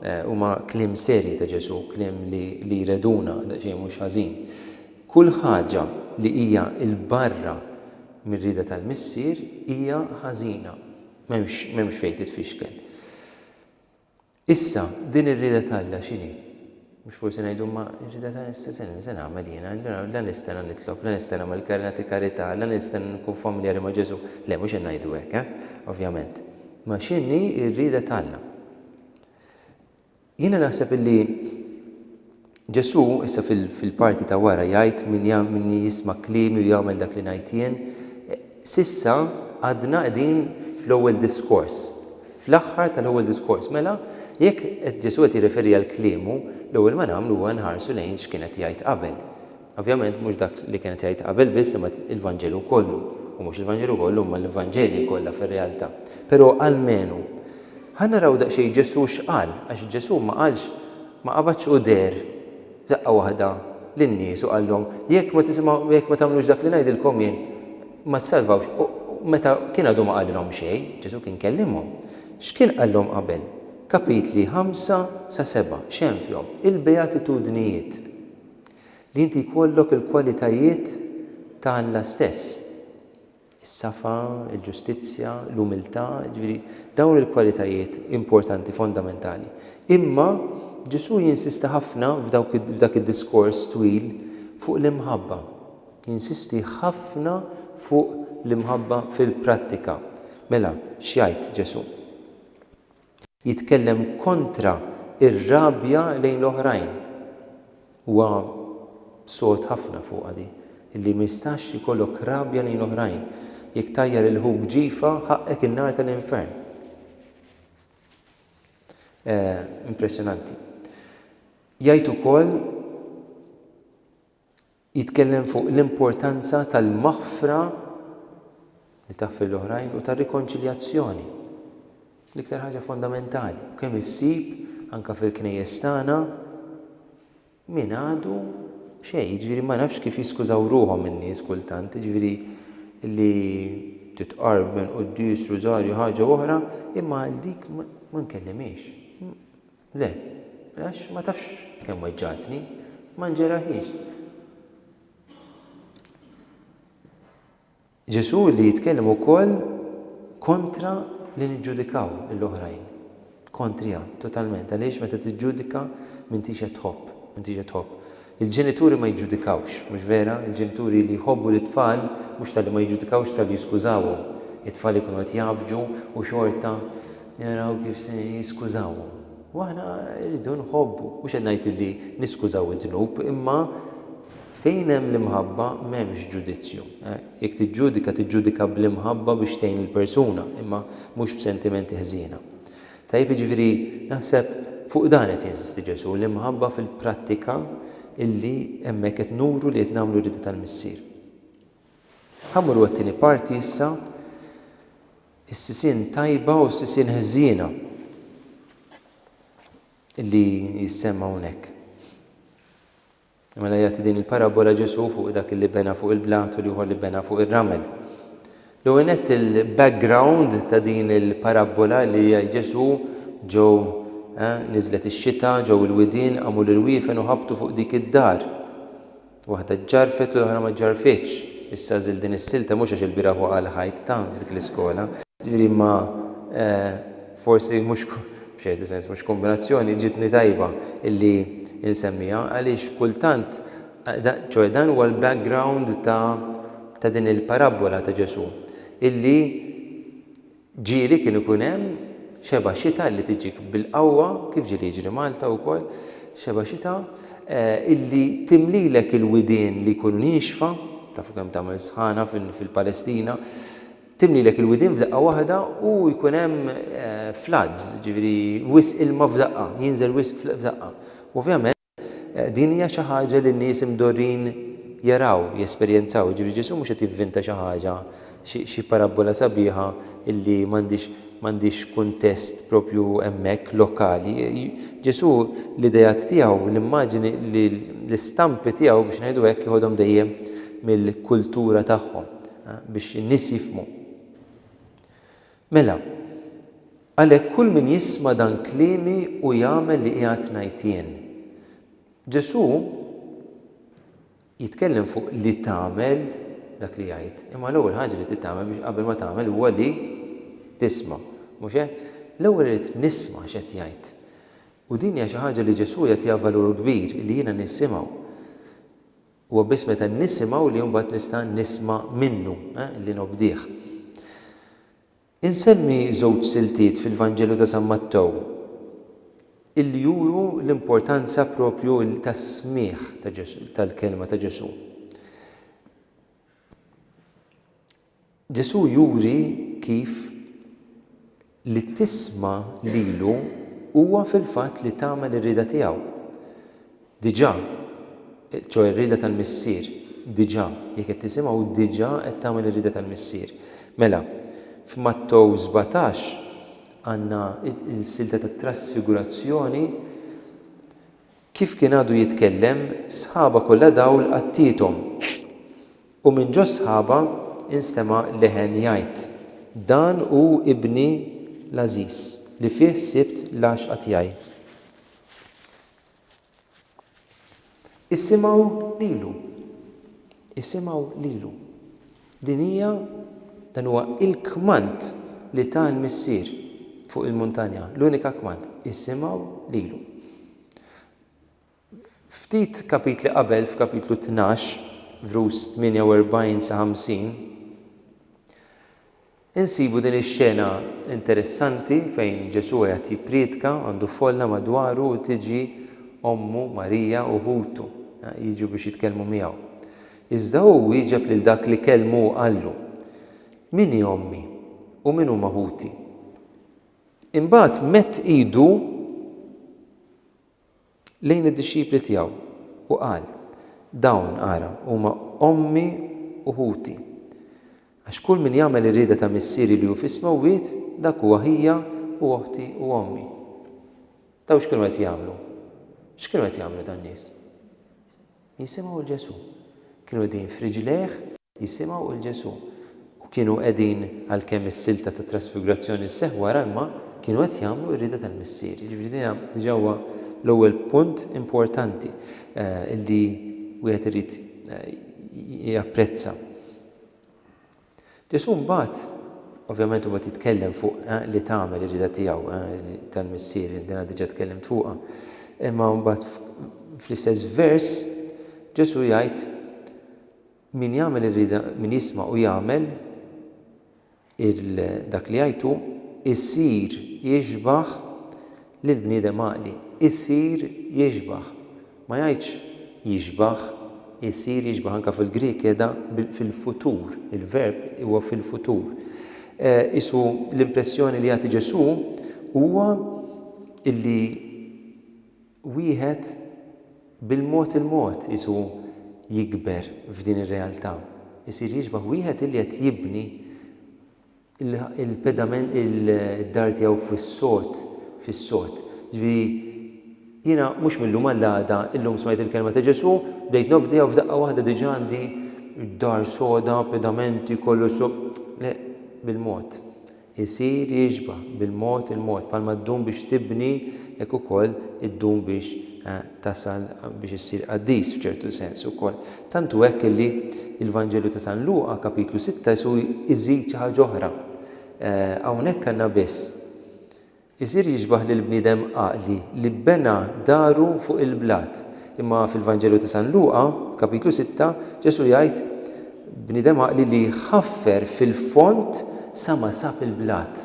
eh, huma kliem serji ta' Ġesù, kliem li, li jreduna daqsxejn mhux ħażin. Kull ħaġa li hija l-barra mir-rieda tal-Missier hija ħażina. M'hemmx m'hemmx fejn titfixkel. Issa, din ir-rieda t'Alla x'inhi? Mhux forsi ngħidu, Imma r-rieda ta' se se nagħmel jiena? La nistenna nitlob, la nistenna nagħmel nagħti karità, la nistenna nkun familjari ma' Ġesù. Le, mhux qed ngħidu hekk, eh? Ovvjament. Ma x'inhi r-rieda t'Alla? Jiena naħseb illi Ġesù, issa fil-parti ta' wara, jgħid, Min min jisma' kliemi u jagħmel dak li ngħid jien. S'issa għadna qegħdin fl-ewwel diskors, fl-aħħar tal-ewwel diskors. Mela, jekk qed Ġesù qed jirreferi għal kliemu, l-ewwel ma nagħmlu huwa nħarsu lejn x'kien qed jgħid qabel. Ovvjament mhux dak li kienet jgħid qabel biss imma l-Vanġelu kollu, u mhux il-Vanġelu kollu imma l-Vanġelji kollha fir-realtà. Però almenu, ħa naraw daqsxejn Ġesù x'qal, għax Ġesù ma qalx, ma qabadx u deher f'daqqa waħda lin-nies u qalhom, jekk ma tisimgħu, jekk ma tagħmlux dak li ngħidilkom jien, ma tsalvawx. U meta kien għadu ma qalilhom xejn, Ġesù kien kellimhom. X'kien qalhom qabel? Kapitli ħamsa sa seba', x'hemm fihom? Il-Beatitudnijiet. Li inti jkollok il-kwalitajiet ta' Alla stess, is-safa, il-ġustizzja, l-umiltà, jiġifieri dawn il-kwalitajiet importanti, fondamentali. Imma Ġesù jinsisti ħafna f'dak id-diskors twil fuq l-imħabba. Jinsisti ħafna fuq l-imħabba fil-prattika. Mela, x'jgħid Ġesù? Jitkellem kontra r-rabja lejn l-oħrajn. Huwa sod ħafna fuqha di, illi ma jistax ikollok rabja lejn l-oħrajn. Jekk tgħajjar lil ħuk ġifa, ħaqqek in-nar tal-infern. Impressjonanti. Jgħid ukoll Jitkellem fuq l-importanza tal-maħfra li taħfir l-oħrajn u tar-rikonċiljazzjoni, l-iktar ħaġa fondamentali, u kemm issib anke fil-knejjes tagħna min għadu xejn, jiġifieri ma nafx kif jiskużaw ruħhom in-nies kultant, jiġifieri li titqarb minn quddies, rużarju, ħaġa oħra, imma għal dik ma nkellimhiex. Le, għax ma tafx kemm weġġgħatni, ma nġerraħiex. Ġesù li jitkellem ukoll kontra li niġġudikaw l-oħrajn. Kontrija, totalment, għaliex meta tiġġudika m'intix qed tħobb, m'intix qed tħobb. Il-ġenituri ma jiġġudikawx, mhux vera? Il-ġenituri li jħobbu lit-tfal mhux talli ma jiġġudikawx talli jiskużawhom. It-tfal ikunu qed jgħaffġu u xorta jaraw kif se jiskużawhom. U aħna rridu nħobbu. Mhux qed ngħid li niskużaw id-dnub, imma fejn hemm l-imħabba m'hemmx ġudizzju. Jekk tiġġudika, tiġġudika bl-imħabba biex tgħin lill-persuna, imma mhux b'sentimenti ħżiena. Tajjeb, jiġifieri naħseb fuq dan qed jinsisti Ġesù, l-imħabba fil-prattika illi hemmhekk qed nuru li qed nagħmlu r-rieda tal-Missier. Ħa mmorru għat-tieni parti issa, is-sisien tajba u s-sisien ħżiena illi jissemma hawnhekk. Mela jagħti din il-parabbola Ġesù fuq dak li bena fuq il-blat u l-ieħor li bena fuq ir-ramel. L-ewwel nett il-background ta' din il-parabbola li jgħid Ġesù ġew eh, niżlet ix-xita, ġew il-widien, qamu l-irwiefen u ħabtu fuq dik id-dar. Waħda ġġarfet u l-oħra ma ġġarfitx. Issa żil din is-silta mhux għax il-bieraħ waqa' l-ħajt ta' f'dik l-iskola. Ġifieri ma eh, Forsi mhux, f'ċertu sens, mhux kombinazzjoni, ġietni tajba illi nsemmiha għaliex kultant, ċoe dan huwa l-background ta' ta' din il-parabbola ta' Ġesù illi ġieli kien ikun hemm xeba' xita li tiġik bil-qawwa, kif ġieli jiġri Malta wkoll, xeba' xita illi timlilek il-widien li jkunu niexfa, tafu kemm tagħmel sħana fil-Palestina, Timlilek il-widien f'daqqa waħda u jkun hemm floods, jiġifieri wisq ilma f'daqqa, jinżel wisq f'daqqa. U ovvjament din hija xi ħaġa li n-nies imdorrin jaraw, jesperjenzaw, jiġifieri Ġesù mhux qed jivvinta xi ħaġa, xi xi parabbola sabiħa illi m'għandhiex m'għandhiex kuntest proprju hemmhekk lokali. Ġesù l-ideat tiegħu, l-immaġini, l-istampi tiegħu biex ngħidu hekk jeħodhom dejjem mill-kultura tagħhom. biex in-nies jifhmu. Mela, għalhekk kull min jisma' dan kliemi u jagħmel li qiegħed ngħid jien. Ġesù jitkellem fuq li tagħmel dak li jgħid, imma l-ewwel ħaġa li trid tagħmel biex qabel ma tagħmel huwa li tisma', mhux hekk? L-ewwel irid nisma' x'qed jgħid. U din hija xi ħaġa li Ġesù jagħtiha valur kbir li jiena nisimgħu. Huwa biss meta nisimgħu li mbagħad nista' nisma' minnu, li nobdih. Insemmi żewġ siltiet fil-Vanġelu ta' San Mattew illi juru l-importanza proprju tas-smigħ tal-kelma ta' Ġesù. Ġesù juri kif li tisma' lilu huwa fil-fatt li tagħmel ir-rieda tiegħu. Diġà, ċoe ir-rieda tal-Missier, diġà, jekk qed tisimgħu, diġà qed tagħmel ir-rieda tal-Missier. Mela, f'Mattew sbatax għandna l-silta tat-trasfigurazzjoni, kif kien għadu jitkellem, sħaba kollha dawl għattiethom. U minn ġo s-sħaba nstema' leħen jgħid, Dan hu Ibni l-għażiż, li fih sibt l-għaxqa tiegħi. Isimgħu lilu! Isimgħu lilu! Din hija, dan huwa l-kmand li ta l-Missier fuq il-muntanja, l-unika kmand, isimgħu lilu. Ftit kapitli qabel, f'Kapitlu Tnax, vrus 48 sa 50, insibu din ix-xena interessanti fejn Ġesù qiegħed jipprietka, għandu folla madwaru u tiġi ommu Marija u ħutu jiġu biex jitkellmu miegħu. Iżda hu wieġeb lil dak li kellmu u qallu, Min hi ommi u min huma ħuti? Imbagħad medd idu lejn id-dixxipli tiegħu u qal, Dawn, ara, huma ommi u ħuti. Għax kull min jagħmel ir-rieda ta' Missieri li hu fis-smewwiet, dak hu aħija u oħti u ommi. Dawn x'kienu qed jagħmlu? X'kienu qed jagħmlu dan-nies? Jisimgħu 'l Ġesù. Kienu qegħdin f'riġlejh jisimgħu 'l Ġesù. U kienu qegħdin, għalkemm is-silta tat-trasfigurazzjoni sseħħ wara l-ma, kienu qed jagħmlu r-rieda tal-Missier. Jiġifieri din hija, diġà huwa l-ewwel punt importanti li wieħed irid japprezza. Ġesù mbagħad, ovvjament imbagħad jitkellem fuq li tagħmel ir-rieda tiegħu tal-Missier, din diġà tkellimt fuqha. Imma mbagħad fl-istess vers Ġesù jgħid min jagħmel ir-rieda min jisma' u jagħmel dak li jgħidu jsir jixbaħ li l-bniedem għaqli jsir jixbah, ma jgħidx jixbah, isir jixbah, anke fil-Grieg qiegħda fil-futur, il-verb huwa fil-futur. Qisu l-impressjoni li jagħti Ġesù huwa li wieħed bil-mod il-mod qisu jikber f'din ir-realtà, isir jixbah wieħed li qed jibni il-pedament il-dar tiegħu fis-sod, fis-sod. Ġifieri jiena mhux millum għall-għada illum smajt il-kelma ta' Ġesu, bdejt nobdi u f'daqqa waħda diġà għandi d-dar soda, pedamenti, kollu so. Le, bil-mod. Isir jiġba bil-mod il-mod, palma ddum biex tibni hekk ukoll iddum biex eh, tasal biex issir qaddis f'ċertu sens ukoll. Tant hu hekk li l-Vanġelu ta' San Luqa, Kapitlu sitta, isu jżid xi ħaġa oħra. Hawnhekk għandna biss, Isir jixbah lill-bniedem għaqli li bena daru fuq il-blat. Imma fil-Vanġelu ta' San Luqa, Kapitlu sitta, Ġesù jgħid, Bniedem għaqli li ħaffer fil-fond sa ma sab il-blat.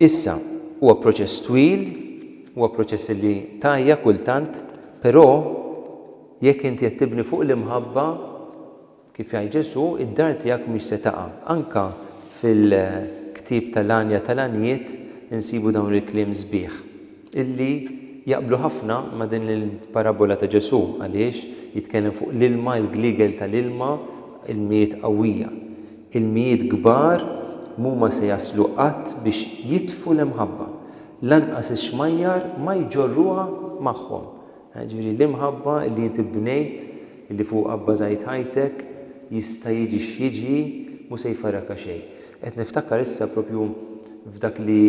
Issa, huwa proċess twil, huwa proċess li tgħajja kultant, però jekk inti qed tibni fuq l-imħabba, kif jgħid Ġesù, id-dar tiegħek mhix se taqa'. Anke fil-ktieb tal-għanja tal-għanjiet insibu dawn il-kliem sbieħ. illi jaqblu ħafna ma' din il-parabbola ta' Ġesù għaliex jitkellem fuq l-ilma, il-gliegel tal-ilma, ilmijiet qawwija. Ilmijiet kbar m'huma se jaslu qatt biex jitfu l-imħabba. Lanqas ix-xmajjar ma jġorruha magħhom. Jiġifieri l-imħabba li inti bnejt, li fuqha bbażajt ħajtek, jista' jiġi x'jiġi, mhu se jfarrakha xejn. Qed niftakar issa proprju f'dak li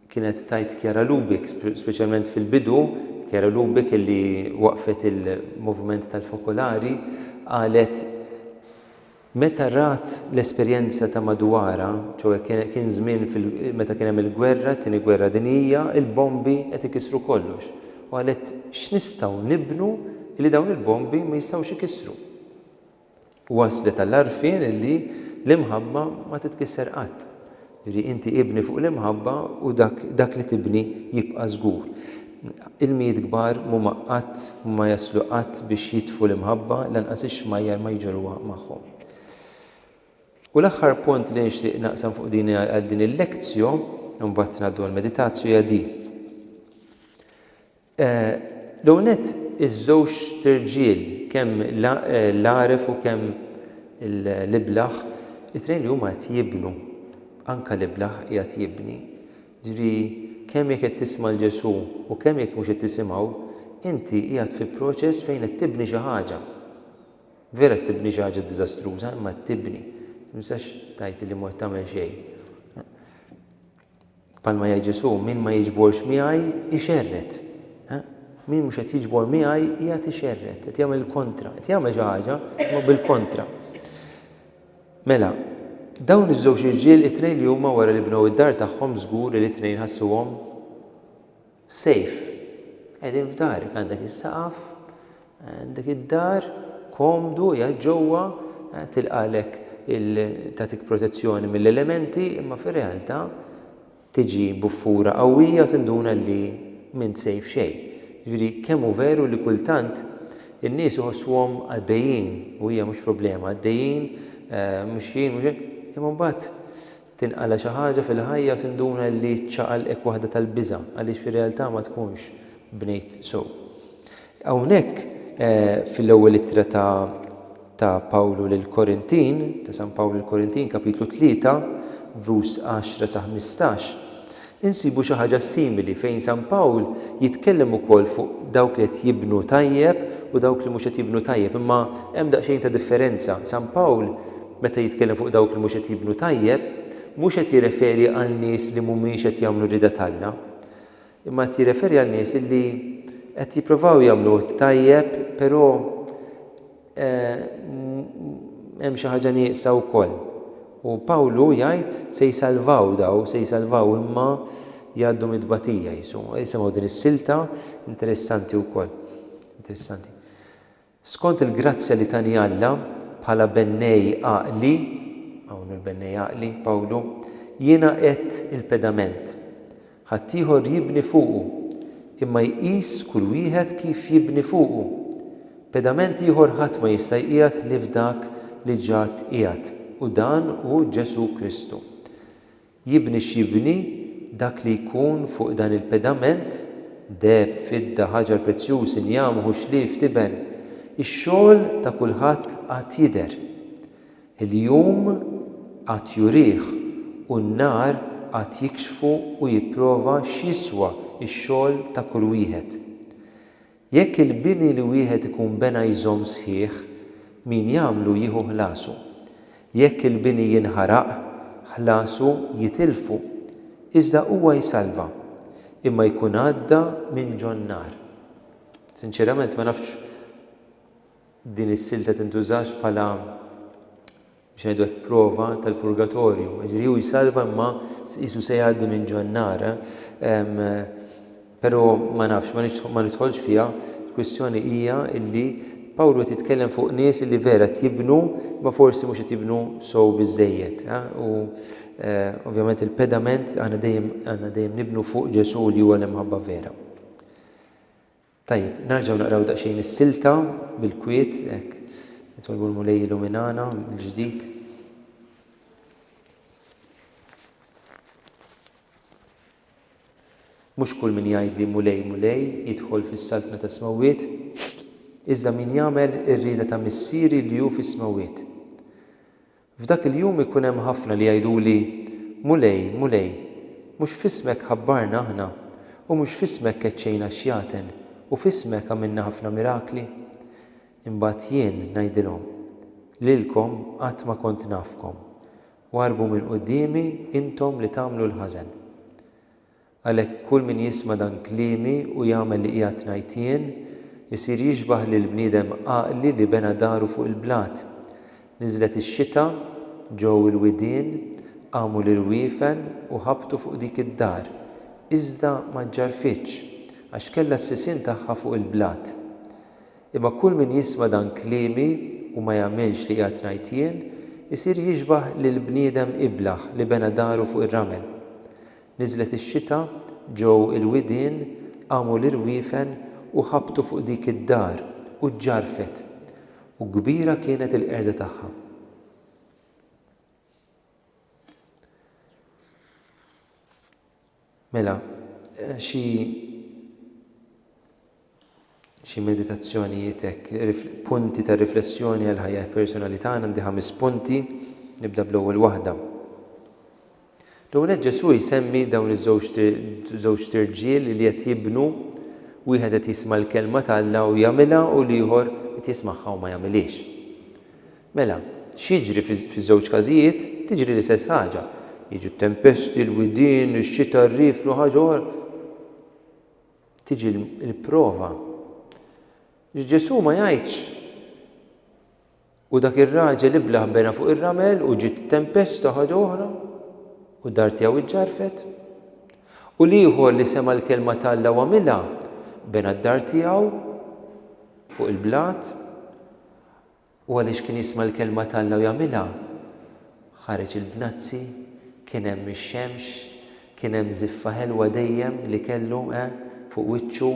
kienet tgħid Chiara Lubich, speċjalment fil-bidu, Chiara Lubich illi waqqfet il-moviment tal-Fokolari qalet meta rat l-esperjenza ta' madwarha, ċoe kien żmien meta kien hemm il-gwerra, it-Tieni Gwerra Dinjija, il-bombi qed ikissru kollox, u qalet x'nistgħu nibnu illi dawn il-bombi ma jistgħux ikissru. Wasslet għall-għarfien li l-imħabba ma titkisser qatt. Jiġifieri inti ibni fuq l-imħabba u dak dak li tibni jibqa' żgur. Ilmijiet kbar m'huma qatt ma jaslu qatt biex jitfu l-imħabba lanqas ix-xmajjar ma jġorruha magħhom. U l-aħħar punt li nixtieq naqsam fuq din għal din il-lectio, imbagħad ngħaddu għall-meditatio hija din. L-ewwel nett, iż-żewġt irġiel, kemm l-għaref u kemm l-iblah, it-tnejn li huma qed jibnu, anke l-iblah qiegħed jibni. Jiġifieri kemm jekk qed tisma' 'l Ġesù u kemm jekk mhux qed tisimgħu, inti qiegħed fi proċess fejn qed tibni xi ħaġa. Vera qed tibni xi ħaġa diżastruża, imma qed tibni. Ma tistax tgħid li mhux qed tagħmel xejn. Bħalma jgħid Ġesù, min ma jiġborx miegħi jxerred. Min mhux qed jiġbor miegħi qiegħed ixerred, qed jagħmel il-kontra, qed jagħmel xi ħaġa imma bil-kontra. Mela, dawn iż-żewġ irġiel it-tnejn li huma wara li bnew id-dar tagħhom żgur li t-tnejn ħassuhom Safe. Qegħdin f'darek, għandek is-saqaf, għandek id-dar, komdu, qiegħed ġewwa, tilqagħlek il tagħtik protezzjoni mill-elementi imma fir-realtà tiġi buffura qawwija u tinduna li m'int safe xejn. Jiġifieri kemm hu veru li kultant in-nies iħossuhom għaddejjin u hija mhux problema, għaddejjin, mixjin, imma mbagħad Tinqala' xi ħaġa fil-ħajja u tinduna li ċċaqalqek waħda tal-biża' għaliex fir-realtà ma tkunx bnejt sew. Hawnhekk fil-ewwel ittra ta' ta' Pawlu lill-Korintin, ta' San Pawl lill-Korintin, kapitlu tlieta, vers għaxra sa ħmistax, Insibu xi ħaġa simili fejn San Pawl jitkellem ukoll fuq dawk li qed jibnu tajjeb u dawk li mhux qed jibnu tajjeb, imma hemm daqsxejn ta' differenza. San Pawl, meta jitkellem fuq dawk li mhux qed jibnu tajjeb, mhux qed jirreferi għal nies li mhumiex qed jagħmlu r-rieda t'Alla, imma qed jirreferi għal nies li qed jipprovaw jagħmlu t-tajjeb, però hemm xi ħaġa nieqsa wkoll. U Pawlu jgħid se jsalvaw daw, se jsalvaw imma jgħaddu mid-tbatija jisu. Jisimgħu din is-silta interessanti wkoll. Interessanti. Skont il-grazzja li tani Alla bħala bennej għaqli, hawn il-bennej għaqli Pawlu, jiena qed il-pedament. Ħaddieħor jibni fuqu, imma jqis kull wieħed kif jibni fuqu. Pedament ieħor ħadd ma jista' jqiegħed ħlief dak li ġa tqiegħed, u dan hu Ġesù Kristu. Jibni x'jibni, dak li jkun fuq dan il-pedament, deheb, fidda, ħaġar prezzjuż, injam, ħuxlief, tiben, ix-xogħol ta' kulħadd għad jidher. Il-jum għad jurih u n-nhar għad jikxfu u jipprova x'jiswa x-xogħol ta' kull wieħed. Jekk il-bini li wieħed ikun bena jżomm sħiħ, min jagħmlu jieħu ħlasu. Jekk il-bini jinħaraq, ħlasu jitilfu. Iżda huwa jsalva. Imma jkun għadda minn ġon-nar. Sinċerament ma nafx Din is-silta tintużax bħala, biex ngħidu hekk, prova tal-purgatorju. Jiġifieri hu jsalva imma qisu se jgħaddi minn ġo n-nar. Però ma nafx, ma nidħolx fiha, il-kwistjoni hija li Pawlu qed jitkellem fuq nies li vera qed jibnu ma forsi mhux qed jibnu sow biżżejjed. U ovvjament il-pedament aħna dejjem għandna dejjem nibnu fuq Ġesù li huwa l-imħabba vera. Tajjeb, narġgħu naqraw daqsxejn is-silta bil-kwiet, hekk. Nitolbu l-Mulej jilluminana mill-ġdid. Mhux kull min jgħidli Mulej, Mulej jidħol fis-saltna tas-smewwiet, iżda min jagħmel ir-rieda ta' Missieri li hu fis-smewwiet. F'dak il-jum ikun hemm ħafna li jgħiduli, 'Mulej, Mulej, mhux f'ismek ħabbarna aħna, u mhux f'ismek keċċejna x-xjaten, u f'ismek għamilna ħafna mirakli? Imbagħad jien ngħidilhom, 'Lilkom qatt ma kont nafkom. Warrbu minn quddiemi, intom li tagħmlu l-ħażen. Għalhekk kull min jisma' dan kliemi u jagħmel li qiegħed ngħid jien, isir jixbah lil bniedem għaqli li bena daru fuq il-blat. Niżlet ix-xita, ġew il-widien, qamu l-irwiefen u ħabtu fuq dik id-dar, iżda ma ġġarrfitx, għax kellha s-sisien tagħha fuq il-blat. Imma kull min jisma' dan kliemi u ma jagħmilx li qiegħed ngħid jien, isir jixbah lil bniedem iblah li bena daru fuq ir-ramel. Niżlet ix-xita, ġew il-widien, qamu l-irwiefen u ħabtu fuq dik id-dar u ġġarrfet, u kbira kienet il-qerda tagħha. Mela, xi Xi meditazzjonijiet hekk, punti ta' riflessjoni għal ħajja personali tagħna għandi ħames punti, nibda bl-ewwel waħda. L-ewwel nett Ġesù jsemmi dawn iż-żewġ tirġiel li qed jibnu wieħed qed jisma' l-kelma t'Alla u jagħmilha u l-ieħor qed jismagħha u ma jagħmilhiex. Mela, x'jiġri fiż-żewġ każijiet? Tiġri l-istess ħaġa. Jiġu t-tempesti, l-widien, ix-xita, r-rieflu, ħaġa oħra. tiġi l-prova. Ġesù ma jgħidx u dak ir-raġel iblah bena fuq ir-ramel u ġiet tempesta ħaġa oħra u d-dar tiegħu ġġarfet. U l-ieħor li sema l-kelma t'Alla u għamilha bena d-dar tiegħu fuq il-blat. U għaliex kien jisma' l-kelma t'Alla u jagħmilha, ħareġ il-bnazzi, kien hemm ix-xemx, kien hemm żiffa ħelwa dejjem li kellu, eh, fuq wiċċu,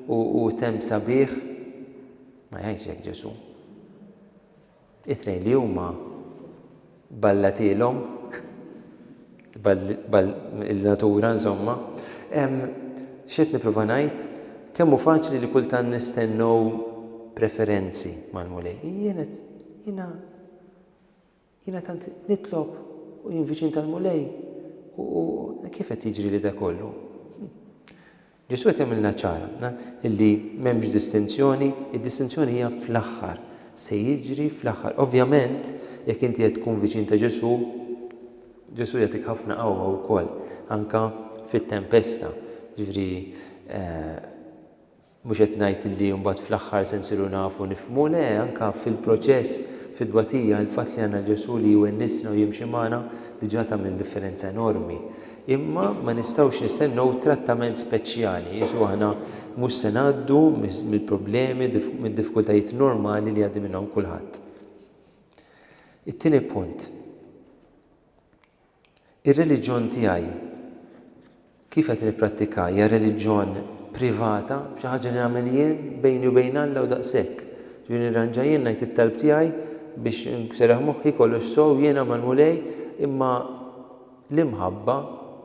u, u temm sabiħ. Ma jgħidx hekk Ġesù. It-tnejn li huma. ballatilhom il-natura insomma. X'qed nipprova ngħid? Kemm hu faċli li kultant nistennew preferenzi mal-Mulej. Jien qed jiena jiena tant nitlob u jien viċin tal-Mulej u kif qed jiġri li da kollu? Ġesù qed jagħmilna ċara li m'hemmx distinzjoni, id-distinzjoni hija fl-aħħar, se jiġri fl-aħħar. Ovvjament, jekk inti qed tkun viċin ta' Ġesù, Ġesù jagħtik ħafna qawwa wkoll, anke fit-tempesta. Ġifieri, mhux qed ngħid li mbagħad fl-aħħar se nsiru nafu nifhmu, le, anke fil-proċess, fit-tbatija, il-fatt li għandna Ġesù li jwennisna u jimxi magħna diġà tagħmel differenza enormi. Imma ma nistgħux nistennew trattament speċjali, qisu aħna mhux se ngħaddu mill-problemi, mid-diffikultajiet normali li jgħaddi minnhom kulħadd. It-tieni punt. Ir-reliġjon tiegħi kif qed nipprattika hija reliġjon privata, xi ħaġa li nagħmel jien bejni u bejn Alla u daqshekk. Ġifieri nirranġa jien ngħid it-talb tiegħi biex nserraħ moħħi kollox sew jiena mal-Mulej imma L-imħabba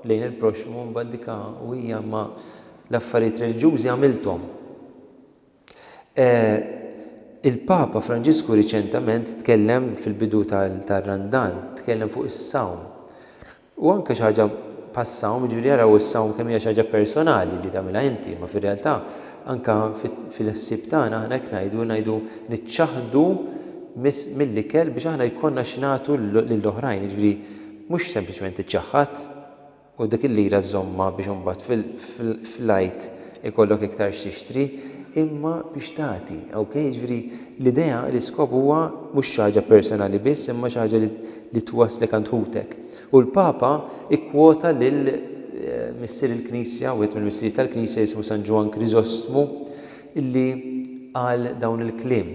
lejn il-proxxmu mbagħad dik u hija ma l-affarijiet reliġjużi għamilthom. Il-Papa Franġisku riċentament tkellem fil-bidu tar-Randan, tkellem fuq is-sawm. U anke xi ħaġa bħas-sawm, jiġifieri jaraw is-sawm kemm hija xi ħaġa personali li tagħmilha inti, ma fir-realtà anke fil-ħsieb tagħna aħna hekk ngħidu, ngħidu niċċaħħdu mill-ikel biex aħna jkollna x'nagħtu lill-oħrajn, jiġifieri Mhux sempliċement tiċċaħħad u dik il-lira żżommha biex imbagħad fl-Għid ikollok iktar x'tixtri, imma biex tagħti, ok? Jiġifieri l-idea, l-iskop huwa mhux xi ħaġa personali biss imma xi ħaġa li twasslek għand ħutek. U l-Papa kkwota lil Missier il-Knisja, wieħed mill-Missirijiet tal-Knisja jismu San Ġwann Kriżostmu, li qal dawn il-kliem.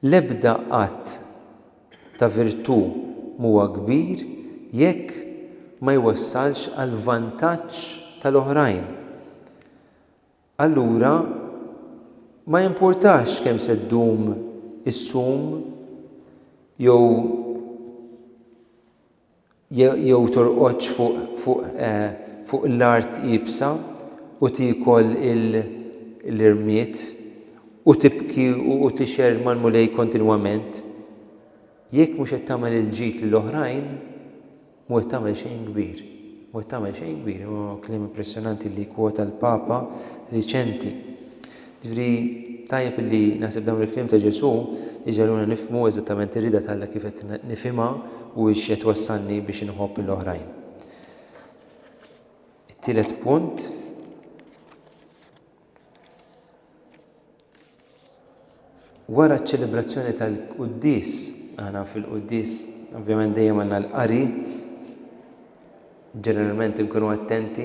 L-ebda att ta' virtù m'huwa kbir jekk ma jwassalx għall-vantaġġ tal-oħrajn. Allura ma jimpurtax kemm se ddum is-sum jew jew torqodx fuq fuq eh, fuq l-art iebsa u tiekol il, l-irmied, u tibki u, u tixgħer mal-Mulej kontinwament. Jekk mhux qed tagħmel il-ġid lil oħrajn, mhu qed tagħmel xejn kbir. Mhu qed tagħmel xejn kbir, huwa kliem impressjonanti li kwota l-Papa riċenti. Jiġifieri, tajjeb illi naħseb dawn il-kliem ta' Ġesù jġagħluna nifhmu eżattament ir-rieda t'Alla kif qed nifhimha u x'qed twassalni biex inħobb lill-oħrajn. It-tielet punt Wara ċ-ċelebrazzjoni tal-Quddies, aħna fil-Quddies ovvjament dejjem għandna l-qari, Ġeneralment inkunu attenti,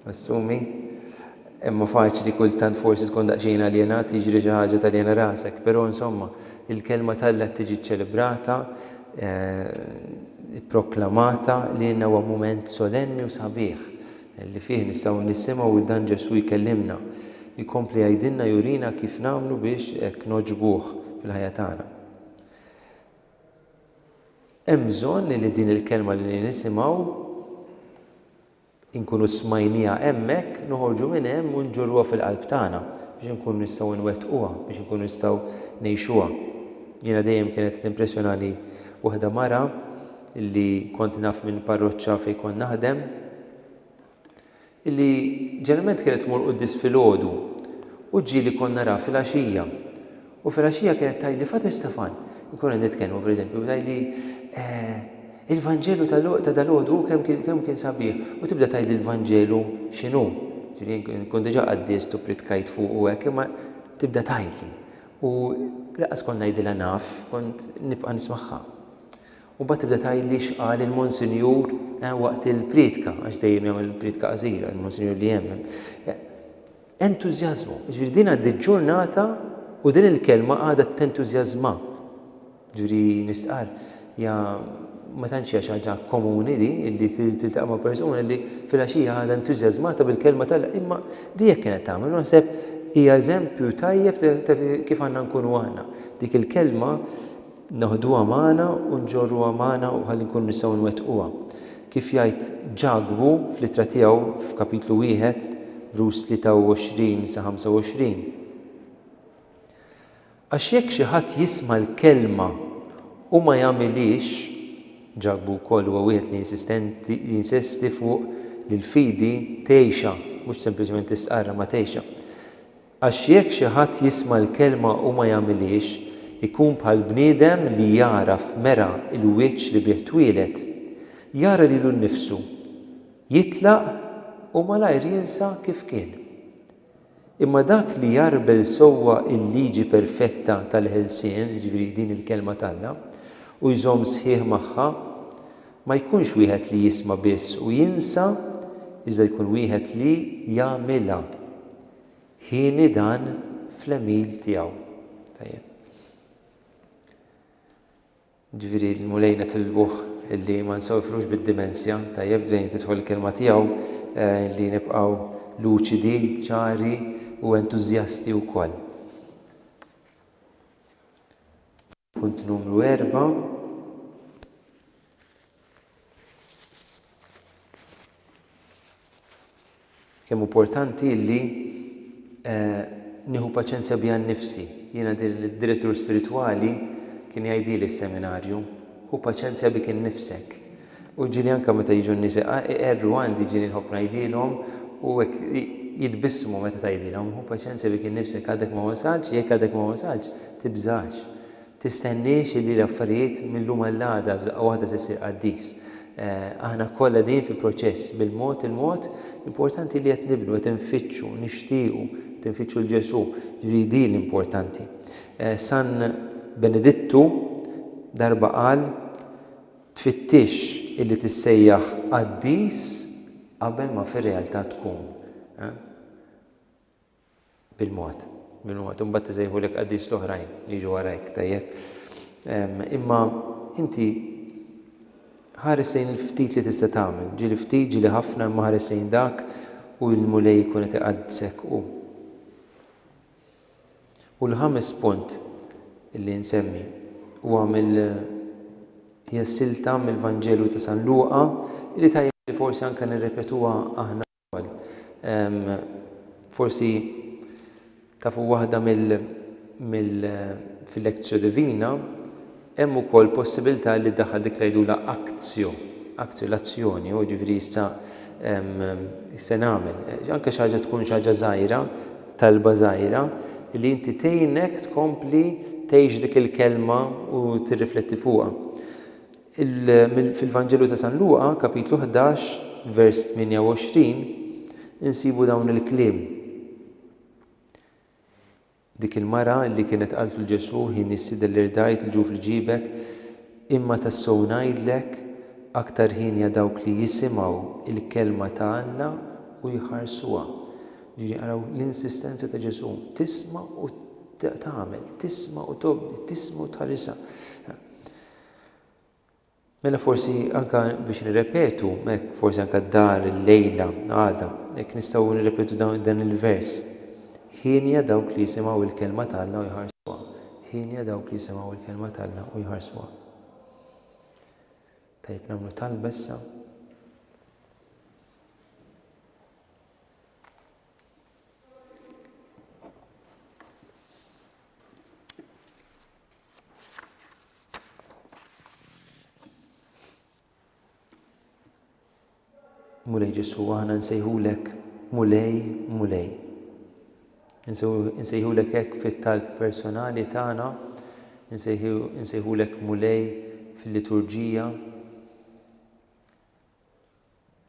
assumi, imma faċli kultant forsi tkun daqsxejn aljenat, jiġri xi ħaġa taljena rasek. Però insomma, il-kelma t'Alla tiġi ċċelebrata, ipproklamata lilna huwa mument solenni u sabiħ li fih nistgħu nisimgħu lil dan Ġesù jkellimna, jkompli jgħidilna jurina kif nagħmlu biex hekk nogħġbuh fil-ħajja tagħna. Hemm bżonn li din il-kelma li nisimgħu, inkunu smajnieha hemmhekk, noħorġu minn hemm u nġorruha fil-qalb tagħna biex inkunu nistgħu nwettquha, biex inkunu nistgħu ngħixuha. Jiena dejjem kienet timpressjonani waħda mara li kont naf minn parroċċa fejn kont naħdem, li ġeneralment kienet tmur quddies filgħodu u ġieli kont naraha filgħaxija u filgħaxija kienet tgħidli Father Stefan, inkunu qed nitkellmu pereżempju, tgħidli eh, il-Vanġelu ta' dal-għodu kemm kien kemm kien sabiħ u tibda tgħidli l-Vanġelu x'inhu. Ġifieri nkun diġà qaddist u pritkajt fuq u hekk imma tibda tgħidli. U laqas kont ngħidilha naf, kont nibqa' nismagħha. U mbagħad tibda tgħidli x'qal il-Monsinjur waqt il-prietka, għax dejjem jagħmel prietka qasira, il-Monsinjur li jemmen. Entużjażmu, ġifieri din għaddi ġurnata u din il-kelma għadha tentużjażma. Ġifieri nistqar, ja ma tantx hija xi ħaġa komuni di li tiltaqa' ma' persuna li filgħaxija għadha entużjażmata bil-kelma tal imma di jekk kienet tagħmel naħseb hija eżempju tajjeb ta' kif għandna nkunu aħna. Dik il-kelma neħduha magħna u nġorruha magħna u ħalli nkunu nistgħu nwettquha. Kif jgħid Ġakbu fl-ittra tiegħu f'Kapitlu wieħed, vrs. 23 sa 25, Għax jekk xi ħadd jisma' l-kelma u ma jagħmilhiex, Ġakbu wkoll huwa wieħed li jinsesti fuq li l-fidi tgħixha, mhux sempliċement tistqarrha, ma tgħixha. Għax jekk xi ħadd jisma' l-kelma u ma jagħmilhiex, ikun bħal bniedem li jara f'mera l-wiċċ li bih twieled. Jara lilu nnifsu, jitlaq u malajr jinsa kif kien. Imma dak li jgħarbel sewwa l-liġi perfetta tal-ħelsien, jiġifieri din il-Kelma t'Alla, u jżomm sħiħ magħha, ma jkunx wieħed li jisma' biss u jinsa, iżda jkun wieħed li jagħmilha. Ħini dan fl-għemil tiegħu. Tajjeb. Ġifieri l-Mulej nitilbuh illi ma nsofrux bid-dimensja, tajjeb fejn tidħol il-kelma tiegħu eh, li nibqgħu luċidi, ċari u entużjasti wkoll. Punt numru erba', Kemm hu importanti li eh, nieħu paċenzja biha nnifsi. Jiena d-direttur spiritwali kien jgħidili s-seminarju, hu paċenzja bik innifsek. U jiġieli anke meta jiġu n-nisieqa iqerru għandi jiġieli nħobb ngħidilhom u hekk jitbissmu meta tgħidilhom, hu paċenzja bik innifsek għadek ma wasaltx, jekk għadek ma wasaltx, tibżax. Tistenniex illi l-affarijiet mil-lum għall-għada f'daqqa waħda se ssir qaddis. Aħna kollha din fil-proċess, bil-mod il-mod, l-importanti illi qed nibnu, qed infittxu, nixtiequ, qed infittxu 'l Ġesù, jiġieli din l-importanti. San Benedittu darba qal, Tfittixx illi tissejjaħ qaddis qabel ma fir-realtà tkun, eh? Bil-mod, bil-mod. Imbagħad isejħulek qaddis l-oħrajn li jiġu warajk, tajjeb? Ehm, imma inti ħares lejn il-ftit li tista' tagħmel, ġieli ftit, ġieli ħafna, imma ħares lejn dak u l-Mulej jkun qed iqaddisek hu. U l-ħames punt li nsemmi huwa mill hija silta mill-Vanġelu ta' San Luqa li tajjeb li forsi anke nirrepetuha aħna wkoll. Ehm, forsi tafu waħda mill mill fil-Lectio Divina Hemm ukoll possibilità li ddaħħal dik li jgħidulha actio, actio, l-azzjoni, hu jiġifieri issa se nagħmel, anke xi ħaġa tkun xi ħaġa żgħira, talba żgħira, li inti tgħinek tkompli tgħix dik il-kelma u tirrifletti fuqha. Fil-Vanġelu ta' San Luqa, kapitlu 11, vers 28, insibu dawn il-kliem. Dik il-mara li kienet qaltlu l-Ġesù, Hi Missi dell' irdajt il-ġuf li ġiebek, imma tassew ngħidlek, aktar hienja dawk li jisimgħu il-kelma ta' Alla u jħarsuha. Ġifieri araw l-insistenza ta' Ġesù, tisma' u tagħmel, tisma' u tobdi, tisma' u tħarisha. Mela forsi anke biex nirrepetu, hekk, forsi anke d-dar illejla, għada, hekk nistgħu nirrepetu dawn, dan il-vers, Hienja dawk li jisimgħu l-kelma ta' Alla u jħarsuha. Hienja dawk li jisimgħu l-kelma ta' Alla u jħarsuha. Tajjeb nagħmlu talba issa. Mulej Ġesu, aħna nsejħulek Mulej, Mulej. Nsejħulek hekk fit-talb personali tagħna, nsejħulek Mulej fil-liturġija.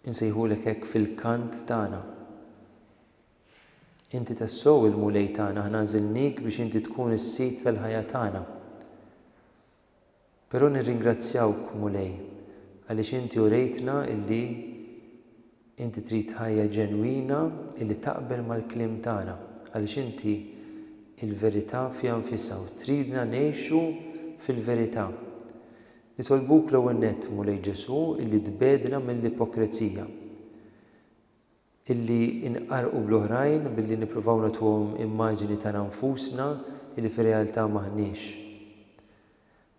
Insejħulek hekk fil-kant tagħna. Inti tassew il-Mulej tagħna, aħna għażilniek biex inti tkun is-Sid tal-ħajja tagħna. Però nirringrazzjawk, Mulej, għaliex inti urejtna illi inti trid ħajja ġenwina illi taqbel mal-kliem tagħna, għaliex inti il-verità fiha nfisha u tridna ngħixu fil-verità. Nitolbuk l-ewwel nett, Mulej Ġesù, illi tbegħdna mill-ipokrezija, illi nqarrqu bl-oħrajn billi nippruvaw nagħtuhom immaġini tagħna nfusna illi fir-realtà m'aħniex.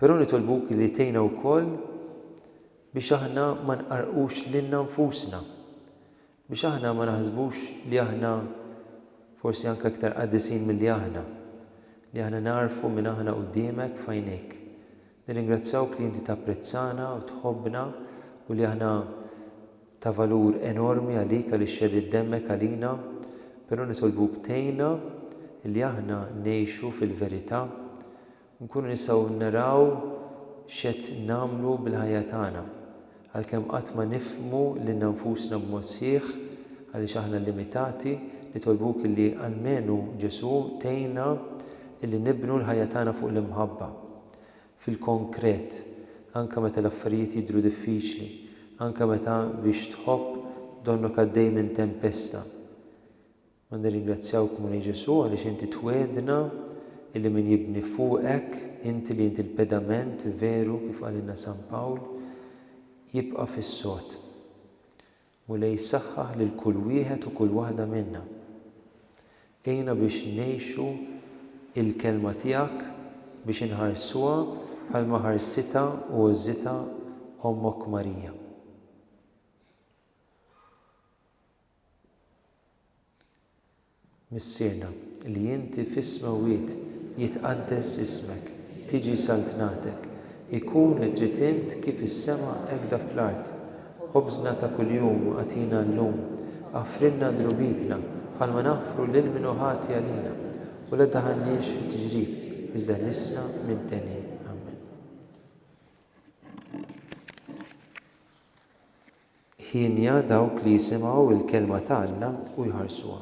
Però nitolbuk illi tgħinna wkoll biex aħna ma nqarrqux lilna nfusna, biex aħna ma naħsbux li aħna forsi anke iktar qaddisin milli aħna, li aħna nagħrfu min aħna quddiemek f'għajnejk. Nirringrazzjawk li inti tapprezzana u tħobbna u li aħna ta' valur enormi għalik għaliex xeddit demmek għalina, però nitolbuk tgħinna li aħna ngħixu fil-verità Nkunu nistgħu naraw x'qed nagħmlu bil-ħajja tagħna. Għalkemm qatt ma nifhmu lilna nfusna b'mod sħiħ, għaliex aħna limitati, nitolbuk illi, almenu Ġesù, tgħinna illi nibnu l-ħajja tagħna fuq l-imħabba. Fil-konkret, anke meta l-affarijiet jidhru diffiċli, anke meta biex tħobb donnok għaddej minn tempesta, U nirringrazzjawk, Mulej Ġesù, għaliex inti twiegħdna illi min jibni fuqek, inti li inti l-pedament veru kif qalilna San Pawl, jibqa' fis-sod. Mulej saħħaħ lil kull wieħed u kull waħda minna. Għinna biex ngħixu il-Kelma tiegħek, biex inħarsuha bħalma ħarsitha u għożżitha Ommok Marija. Missierna, li inti fis-smewwiet jitqaddes ismek, tiġi saltnatek, ikun li trid int kif is-sema hekk da fl-art. Ħobżna ta' kuljum agħtina llum. Aghfrilna dnubietna bħalma naghfru lil min hu ħati għalina, u la ddaħħalniex fi tiġrib, iżda ħlisna minn t'għenin. Amen. Hienja dawk li jisimgħu il-kelma ta' Alla u jħarsuha.